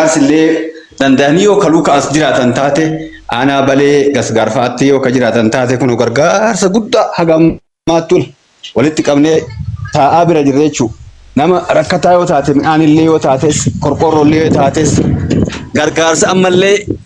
Gargaarsi illee danda'anii yoo kaluu ka'as jiraatan taate aanaa balee gasgaarfaatti yoo ka jiraatan taate kun gargaarsa guddaa haga ammaattuun walitti qabnee taa'aa bira jirra jechuudha. Nama rakkataa yoo taate midhaan illee yoo taates qorqoorroo illee yoo taates gargaarsa ammallee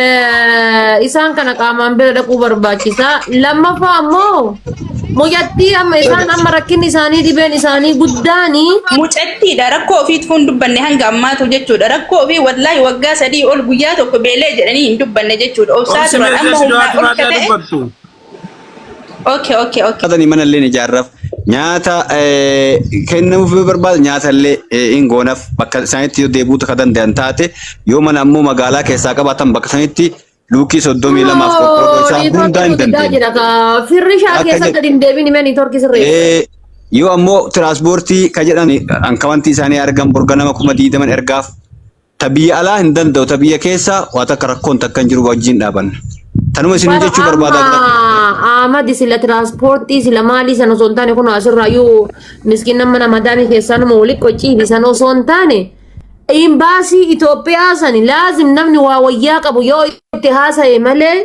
Eh, isaan kana qaamaan bira dhaquu barbaachisa. Lammaffaa ammoo mucattii amma isaan amma rakkinni isaanii dhibeen isaanii guddaanii Mucattiidha rakkoo ofiitu hin dubbanne hanga ammaatu jechuudha. Rakkoo ofii wallaahi waggaa sadii ol guyyaa tokko beelee jedhanii hin dubbanne jechuudha. Obsaa Obsi turan meeshaa amma si humnaa du'aati ol baadhaa ka ta'e dubbattu. Okay, okay, okay. Nyaatani mana illee ni ijaarraf. Nyaata eh, kennamuuf yoo barbaade nyaata illee eh, hin goonaf. Bakka isaanitti yoo deebi'uu akka danda'an taate yoo mana ammoo magaalaa keessaa qabaatan bakka isaanitti luukii soddomii lamaaf qoqqoodoo isaa hundaa hin dandeenye. Firri isaa Akka keessatti jedhu- gadi hin deebiin himee niitoorkii sirrii. Eh, Yoo ammoo tiraanspoortii ka jedhan ankawantii isaanii argan borga nama kuma diidaman ergaaf Ta biyya alaa hin danda'u, ta biyya keessa waa takka rakkoon takka hin jiru wajjin dhaabanna. Tanuma isin Bara jechuu barbaada. amma Ahmad sila tiraanspoortii sila maalii san osoo hin taane kun asirraayyuu miskiin nama nama daamii keessaa nama wali qociiti san osoo hin taane imbaasii Itoophiyaa sani laazim namni waa wayyaa qabu yoo itti haasa'e malee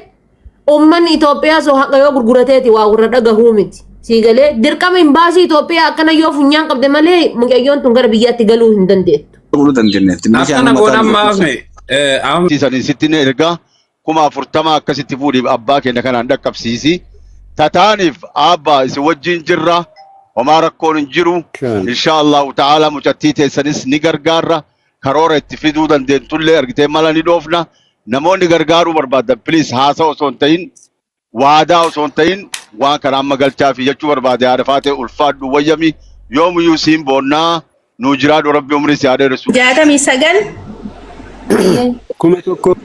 Uummanni Itoophiyaa soo haqa yoo gurgurateeti waa warra dhagahuu miti. Sii galee dirqama imbaasii Itoophiyaa akkana yoo funyaan qabde malee mucayyoon tun gara biyyaatti galuu hin dandeettu. Olu dandenetti. Akkana goonaan maafne. Amma Isanii sitti na ergaa kuma afurtama akkasitti fuudhiif abbaa keenya kanaan dhaqqabsiisi. Tataaniif abbaa isin wajjin jirra. Homaa rakkoon hin jiru. Kan. Inshaa Allahu ta'ala mucattii teessanis ni gargaarra. karoora itti fiduu dandeentullee argitee mala ni dhoofna. Namoonni gargaaruu barbaadan piliis haasaa osoo hin ta'in waadaa osoo hin ta'in waan kana amma galchaa fi jechuu barbaade haadha faatee ulfaadhu wayyami yoomuyyuu siin boonnaa nuu jiraadhu rabbi umrii si haa dheeressu. jaatamii sagal kuma tokko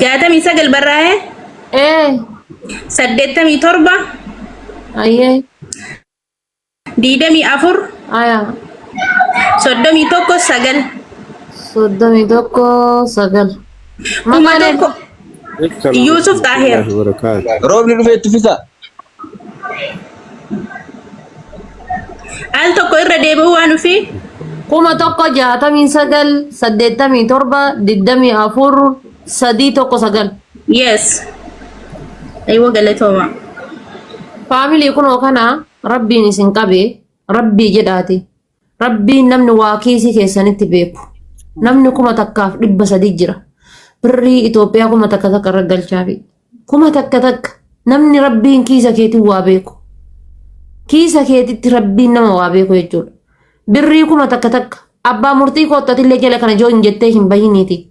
jaatamii sagal barraa'ee ee saddeettamii torba ayyee digdamii afur Aya. soddomii tokko sagal Soddomii tokko sagal. kuma Maqaan tokko Yuusuf Xaaheer. Roobni dhufee itti fisa. al tokko irra deebi'uu waan dhufee kuma tokko jaatamii sagal saddeettamii torba digdamii afur sadii tokko sagal. Yes. Aywa galatooma. Faamilii kunoo kana rabbiin isin qabe rabbii jedhaati. Rabbiin namni waa kiisii keessanitti beeku. Namni kuma takkaaf dhibba sadii jira. Birrii Itoophiyaa kuma takka takka irra galchaafi. Kuma takka takka namni rabbiin kiisa keetiin waa beeku. Kiisa keetitti rabbiin nama waa beeku jechuudha. Birrii kuma takka takka abbaa murtii koottatillee jala kana joo hin jettee hin bahiniiti.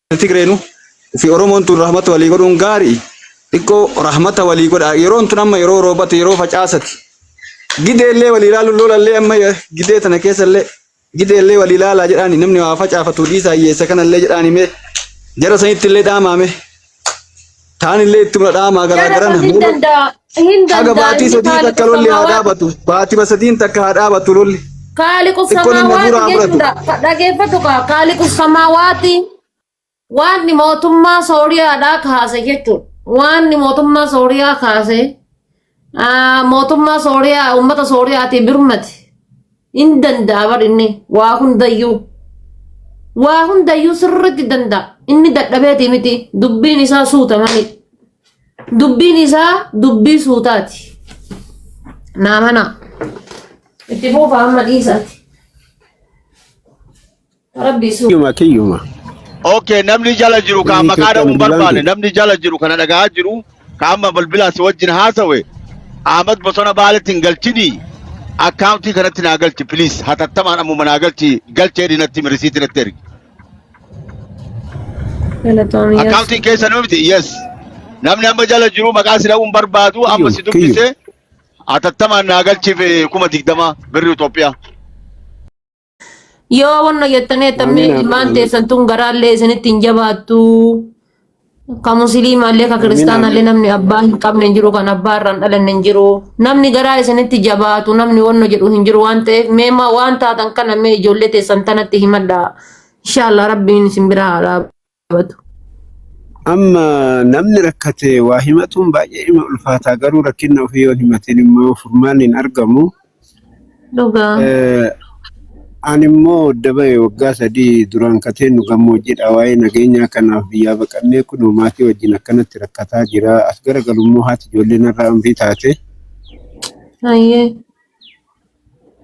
Tigreenu fi Oromoon tun rahmata walii godhuun gaari xiqqoo rahmata walii godha yeroon tun amma yeroo roobati yeroo facaasati gideellee walii ilaaluun loolallee amma gidee tana keessallee gideellee walii ilaalaa jedhaani namni waa facaafatu dhiisaa hiyyeessa kanallee jedhaani mee jara sanitti illee dhaamaame. Taan illee itti mula dhaamaa garaa Jara garana. hin danda'a. Hin Haga danda'a. baatii Inni sadii takka lolli haa kaaliqosamaawaati. dhaabatu. Baatii basadiin takka haa dhaabatu lolli. Kaaliqu Xiqqoon inni samaawaati hafuuraa fudhatu. jechuudha. Dhageeffatu kaa kaaliqu samaawaati waanni mootummaa Sooriyaadhaa kaase jechuudha. Waanni mootummaa Sooriyaa kaase Ah, mootummaa sooriyaa uummata sooriyaatii birmati hin danda'a bar inni waa hundayyuu waa hundayyuu sirritti danda'a inni dadhabeetii miti dubbiin isaa suuta mali dubbiin isaa dubbii suutaati naa manaa itti fuufa amma dhiisaati Rabbi isu. Kiyyuma kiyyuma. Okay, namni jala jiru kaa Biyyi maqaa Itoophiyaa dhabuun bilbilaan barbaanne kiyya. namni jala jiru kana dhaga'aa jiru kaa amma bilbilaa si wajjin haasawe Ahmad Bosona Baaletti hin galchini akkaawuntii kanatti naa galchi please hatattamaan ammuma naa galchi galchee dinatti mirisiitti natti ergi Galatoomii yes. akkaawuntiin keessa nuu miti yes namni amma jala jiru maqaa si dhabuun barbaadu amma si Kiyyuma kiyyuma. dubbise hatattamaan naa galchiif eh, kuma digdama birri Itoophiyaa Yoo wanna jettanii jettamni Amiin, amiin, ilmaan amiin. teessan tun garaallee isinitti hin jabaattu. Ka musliimaallee ka kiristaanaallee namni abbaa hin qabne hin jiru kan abbaa irraa hin dhalanne hin jiru. Namni garaa isinitti jabaatu namni wanna jedhu hin jiru waan ta'eef mee ma- waan taatan kana mee ijoollee teessan tanatti himadha. Inshaallah rabbiin isin biraa haa dhaabbatu. qabatu. Amma namni rakkate waa himatuun baay'ee ima ulfaataa garuu rakkinna ofii yoo himatin immoo furmaanni hin argamu. Dhugaa. Eh, Ani immoo dabaye waggaa sadii duraan kateen nu gammoojjidha waa'ee nageenyaa kanaaf biyyaa baqannee kun maatii wajjin akkanatti rakkataa jira as gara galummoo haati ijoollee narraa umrii taate Hayyee.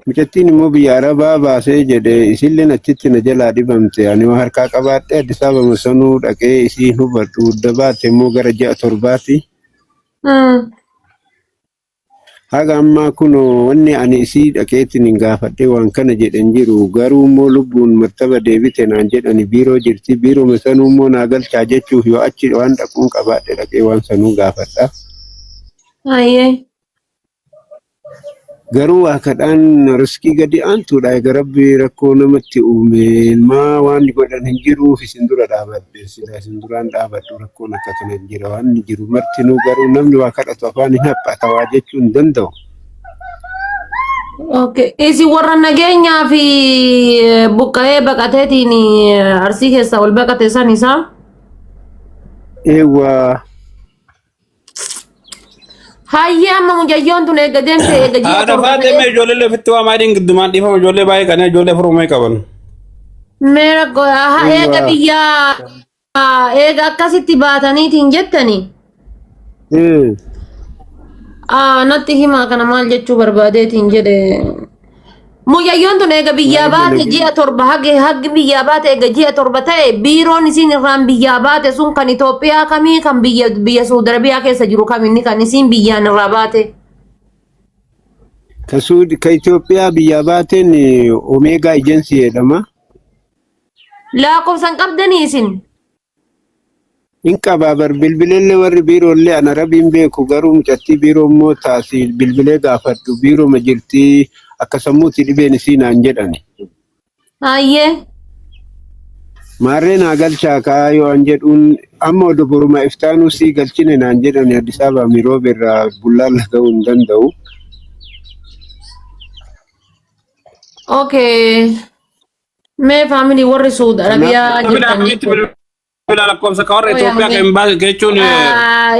Mucattiin immoo biyya arabaa baasee jedhe isilleen achitti na jalaa dhibamte ani waa harkaa qabaadhee Addis Ababa sanuu dhaqee isii hin hubadhu udda baatte immoo gara ji'a torbaati haga ammaa kunoo wanni ani isii dhaqeetiin hin gaafadhe waan kana jedhe hin jiru garuu immoo lubbuun mattaba deebite naan jedhani biiroo jirti biiroma sanuu immoo naa galchaa jechuuf yoo achi waan dhaquun qabaadhe dhaqee waan sanuu gaafadha Hayyee. Garuu waa kadhaan riskii gadi aantuudha. Egaa rabbi rakkoo namatti uume maa waan godhan hin jiruuf isin dura dhaabadhe silaa isin duraan dhaabadhu rakkoon akka kana hin jira waan hin jiru martinuu garuu namni waa kadhatu afaan hin haphata waa jechuu hin danda'u. Okay. Isin warra nageenyaa fi eh, buqqa'ee baqateetiin eh, arsii keessaa ol baqate san isaa Eewwaa Hayyee amma mucayyoon tun eega deemte eega ji'a Haadha torba faatee mee ta'e ijoollee ofitti waa maaliin giddumaan dhiifama ijoollee baay'ee qanee ijoollee furuu mee qaban. meera go- aha, eega Dhugaa. biyyaa ah, eega akkasitti baataniitiin jettani Hmm. ah, natti himaa kana maal jechuu barbaadeetiin jedhe Mucayyoon tun eega biyyaa Maaliif baate dalagee? ji'a torba hage haggi biyyaa baate eega ji'a torba ta'e biiroon isiin irraan biyyaa baate sun kan Itoophiyaa kamii kan biyya biyya Suudi Arabiyaa keessa jiru kaminni kan isiin biyyaan irraa baate. Ka Suudi ka Itoophiyaa biyyaa baateen Omeegaa Ejensii jedhama. Lakkoofsan qabdanii isin Hin qabaa bar bilbilellee warri biiroollee ana rabiin beeku garuu mucattii biiroo immoo taasi bilbilee gaafadhu biiroma jirtii akka sammuuti dhibeen isii naan jedhani. Hayyee. Maarree naa galchaa kaa yoo an jedhuun amma odo boruma iftaanuu sii galchine naan jedhani Addis Ababa miroobe irraa bullaalla ga'uu hin danda'u. Okay. Mee faamilii warri Suud Arabiyaa Bilbila jirtan akkamitti bilbila lakkoofsa ka warra Itoophiyaa ka hin baase jechuun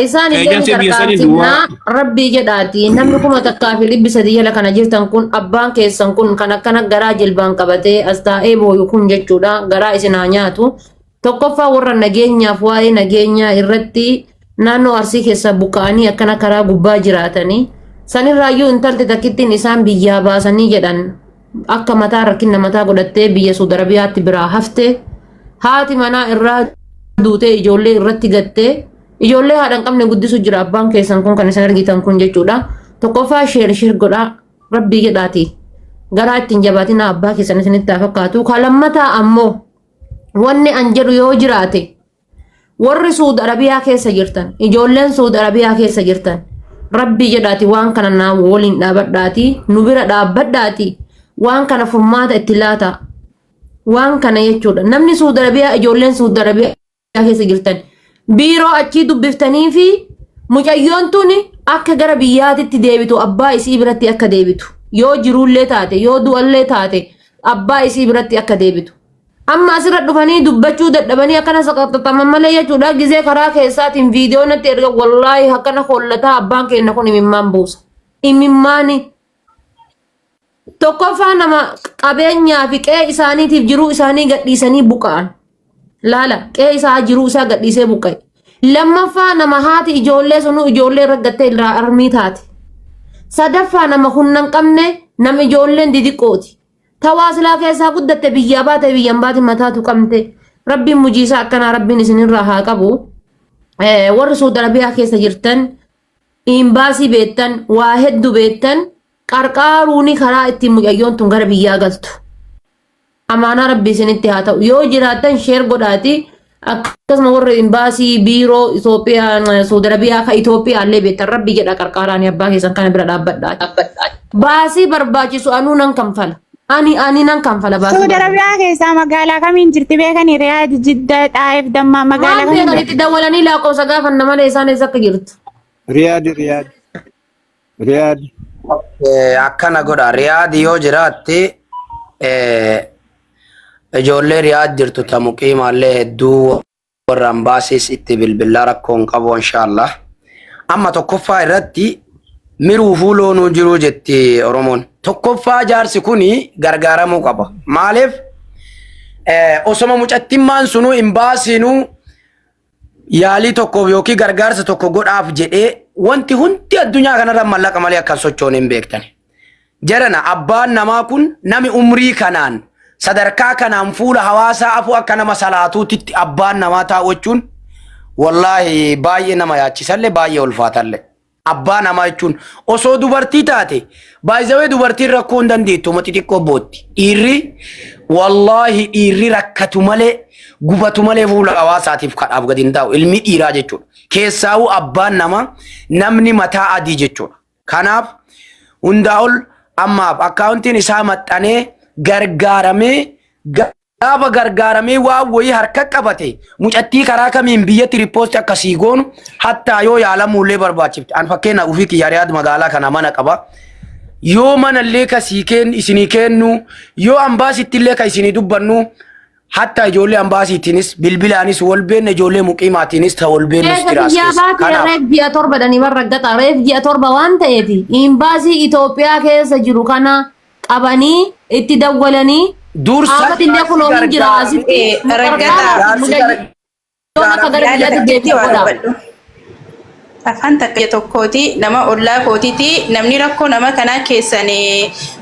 isaan illee ni eejansii biyya sanii gargaarsiifnaa duwwaa. rabbii jedhaati namni kuma takkaa fi dhibbi sadii jala kana jirtan kun abbaan keessan kun kan akkana garaa jilbaan qabatee as taa'ee booyu kun jechuudha garaa isin haa nyaatu Tokkoffaa warra nageenyaaf waa'ee nageenyaa irratti naannoo Arsii keessaa buqqa'anii akkana karaa gubbaa jiraatanii sanirraayyuu intalti takkittiin isaan biyyaa baasanii jedhan akka mataa rakkina mataa godhattee biyya Suud Arabiyaatti biraa hafte haati manaa irraa duutee ijoollee irratti gattee ijoollee haadha hin qabne guddisu jira abbaan keessan kun kan isin argitan kun jechuudha tokkoffaa sheer sheer godhaa rabbii jedhaati garaa ittiin jabaatinaa abbaa keessan isinitti haa fakkaatu kan lammataa ammoo wanni an jedhu yoo jiraate warri suud arabiyaa keessa jirtan ijoolleen suud arabiyaa keessa jirtan rabbii jedhaati waan kana naa waliin dhaabadhaati nu bira dhaabbadhaati waan kana furmaata itti laata waan kana jechuudha namni suud arabiyaa ijoolleen suud arabiyaa keessa jirtan biiroo achii dubbiftanii fi mucayyoon tun akka gara biyyaatitti deebitu abbaa isii biratti akka deebitu yoo jiruullee taate yoo du'allee taate abbaa isii biratti akka deebitu. Amma asirra dhufanii dubbachuu dadhabanii akkana saqaxaxaman malee jechuudha gizee karaa keessaatiin viidiyoo natti erga wallaahi akkana hollataa abbaan keenya kun imimmaan buusa. Imimmaani. Tokkoffaa nama qabeenyaa fi qe'ee isaaniitiif jiruu isaanii gadhiisanii buqqa'an. Laala qe'ee isaa jiruu isaa gadhiisee buqqa'e. Lammaffaa nama haati ijoollee sunuu ijoollee irra gattee irraa armii taate. Sadaffaa nama humna hin qabne nama ijoolleen didiqqooti. Tawaa silaa keessaa guddatte biyyaa baate biyyan baate mataatu qabde. Rabbiin mujiisaa akkanaa rabbiin isinirraa haa qabu. Eh, Warri Suudi Arabiyaa keessa jirtan Imbaasii beektan, waa heddu beektan qarqaaruuni karaa ittiin mucayyoon tun gara biyyaa galtu. Amaanaa rabbi isinitti haa ta'u. Yoo jiraattan sheer godhaati akkasuma warra imbaasii biiroo Itoophiyaa Saudi Arabiyaa ka Itoophiyaa illee beektan rabbi jedha qarqaaraani abbaa keessan kana bira dhaabbadhaati. Baasii barbaachisu anuu nan kanfala. Ani ani nan kanfala baasii. Suudi Arabiyaa keessaa magaalaa kamiin jirti beekani? Riyaad, Jidda, Xaayif, Dammaa magaalaa Maal kamiin beekan jirti? itti dawwalanii lakkoofsa gaafanna malee isaan eessa akka jirtu. Riyaad Riyaad Riyaad Eh, akkana godha riyaad yoo jiraatte eh, ijoollee riyaad jirtu ta muqiimaallee hedduu warra ambaasis itti bilbillaa rakkoo hin qabu inshaallah amma tokkoffaa irratti miruufuu loonuu jiruu jetti oromoon tokkoffaa jaarsi kun gargaaramuu qaba maaliif eh, osoma mucattimmaan sunuu hin baasiinuu yaalii tokkoof yookiin gargaarsa tokko godhaaf jedhee wanti hundi addunyaa kanarra mallaqa malee akkan sochoon hin beektani Jarana abbaan namaa kun nami umrii kanaan sadarkaa kanaan fuula hawaasaa afuu akka nama salaatuutitti abbaan namaa taa'uuchuun wallaahi baay'ee nama yaachisalle baay'ee ulfaatalle. Abbaa namaa jechuun osoo dubartii taate baay'isawee dubartiin rakkoo hin dandeettu mati xiqqoo bootti. Dhiirri wallaahi dhiirri rakkatu malee gubatu malee fuula hawaasaatiif kadhaaf gadi hin taa'u ilmi dhiiraa jechuudha. Keessaawuu abbaan namaa namni mataa adii jechuudha. Kanaaf hundaa ol ammaaf akkaawuntiin isaa maxxanee gargaaramee gaafa gargaaramee waan wayii harka qabate mucattii karaa kamiin biyyatti rippoosti akka sii goonu hattaa yoo yaalamuullee barbaachifte an fakkeenya ofii kiyya riyaad magaalaa kana mana qaba yoo manallee ka sii kennu isinii kennu yoo ambaasittillee ka isinii dubbannu Hatta ijoollee ambaasiitiinis bilbilaanis wal beekna ijoollee muqiimaatiinis ta wal beeknus Eega jiraas biyyaa keessa. baatee Kanaaf reef ji'a torba dhanii warra gaxa reef ji'a torba waan ta'eef imbaasii Itoophiyaa keessa jiru kana qabanii itti dawwalanii dursa dhaabbatillee jaarsi kunoo hin jira gargaaru asitti ee nu gargaaraa raggataa fi jaarsi mudayyii. gargaaru Yoon akka gara biyyaatti deebi'e godha. Afaan takka tokkooti nama ollaa kootiti namni rakkoo nama kanaa keessan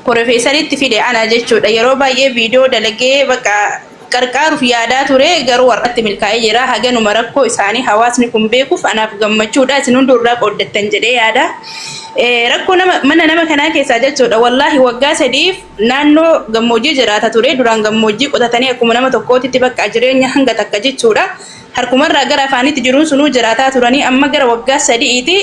porofeesaritti fide ana jechuudha. Yeroo baay'ee viidiyoo dalagee bakka qarqaaruuf yaadaa ture garuu warratti milkaa'ee jira. Haganuma rakkoo isaanii hawaasni kun beekuuf anaaf gammachuudha. Isin hunduu irraa qooddattan jedhee yaada. Rakkoo mana nama kanaa keessaa jechuudha. Wallaahi waggaa sadiif Naannoo gammoojjii jiraata ture. Duraan gammoojjii qotatanii akkuma nama tokkootitti bakka jireenya hanga takka jechuudha. Harkumarraa gara afaaniitti jiruun sunuu jiraataa turanii amma gara waggaa sadi'iiti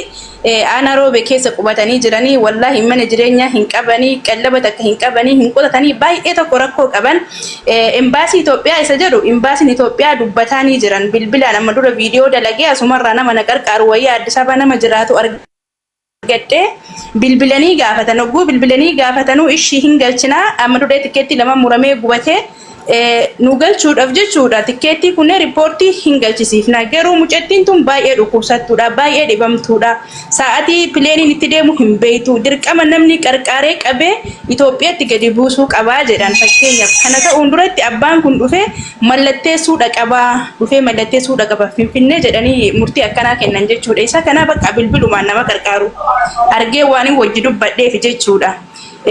aanaa Roobee keessa qubatanii jiranii. Wallaahi mana jireenyaa hin qabani, qallaba takka hin qabani, hin qotatanii baay'ee tokko rakkoo qaban. Embaasii Itoophiyaa isa jedhu Embaasiin Itoophiyaa dubbataanii jiran bilbilaan amma dura viidiyoo dalagee asumarraa nama na qarqaaru wayya Addis Ababa nama jiraatu argadhe. argadhee bilbilanii gaafatan hogguu bilbilanii gaafatanuu ishii hin galchinaa amma dudhee tikkeettii lama muramee gubatee nu galchuudhaaf jechuudha tikkeettii kunnee riippoortii hin galchisiifna garuu mucattiin tun baay'ee dhukkubsattuudha baay'ee dhibamtuudha sa'atii pileeniin itti deemu hin beeytu dirqama namni qarqaaree qabee Itoophiyaatti gadi buusuu qabaa jedhan fakkeenyaaf kana ta'uun duratti abbaan kun dhufee Mallatteessuu dhaqaba, dhufee mallatteessuu dhaqaba Finfinnee jedhanii murtii akkanaa kennan jechuudha. Isa kana bakka bilbilumaan nama qarqaaru argee waanin wajji dubbadheef jechuudha.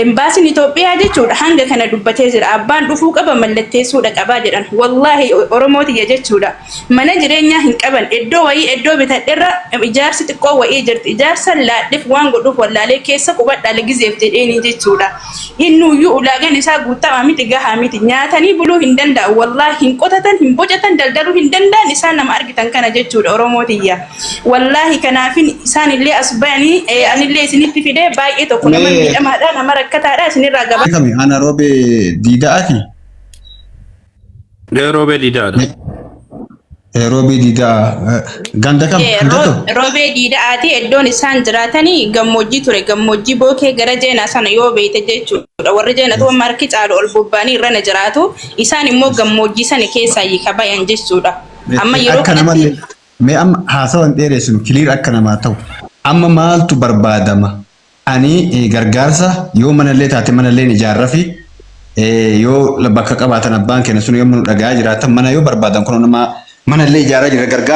Embaasiin Itoophiyaa jechuudha hanga kana dubbatee jira. Abbaan dhufuu qaba mallatteessuu dhaqaba jedhan. Wallaahi Oromoo tiyya jechuudha. Mana jireenyaa hin qaban. Eddoo wayii eddoo bitadherra ijaarsi xiqqoo wayii jirti. Ijaarsa laadheef waan godhuuf wallaalee keessa qubadhaa legizeef jedheenii jechuudha. Innuuyyuu ulaagaan isaa guuttamaa miti, gahaa miti. Nyaatanii buluu hin danda'an wallaah, hin qotatan, hin bocatan, daldaluu hin danda'an isaan nama argitan kana jechuudha Oromoo tiyya. Wallaahi kanaafin isaan illee as bayanii an illee isinitti fide baay'ee tokko nama Mee- miidhamaadha, nama rakkataadha isinirraa gabaasa. Kami ana robe dida ati. Roobee diidaadha. Roobee diidaa ganda kam? Ganda kam? Roobee diidaati iddoon isaan jiraatanii gammoojjii ture. Gammoojjii bookee gara jeenaa sana yoo beeyte jechuudha. Warri jeenatu amma harki caalu ol bobba'anii irra na jiraatu. Isaan immoo gammoojjii sana keessaa hiika bayan jechuudha. Amma yeroo Akka nama kanatti mee amma haasawa hin dheeressinu kiliir akka namaa ta'u. Amma maaltu barbaadama? Ani gargaarsa yoo manallee taate manalleen ijaarrafi yoo bakka qabaatan abbaan keenya sun yoomma nu dhaga'aa jiraatan mana yoo barbaadan kunoo nama manallee ijaaraa jirra gargaarsa.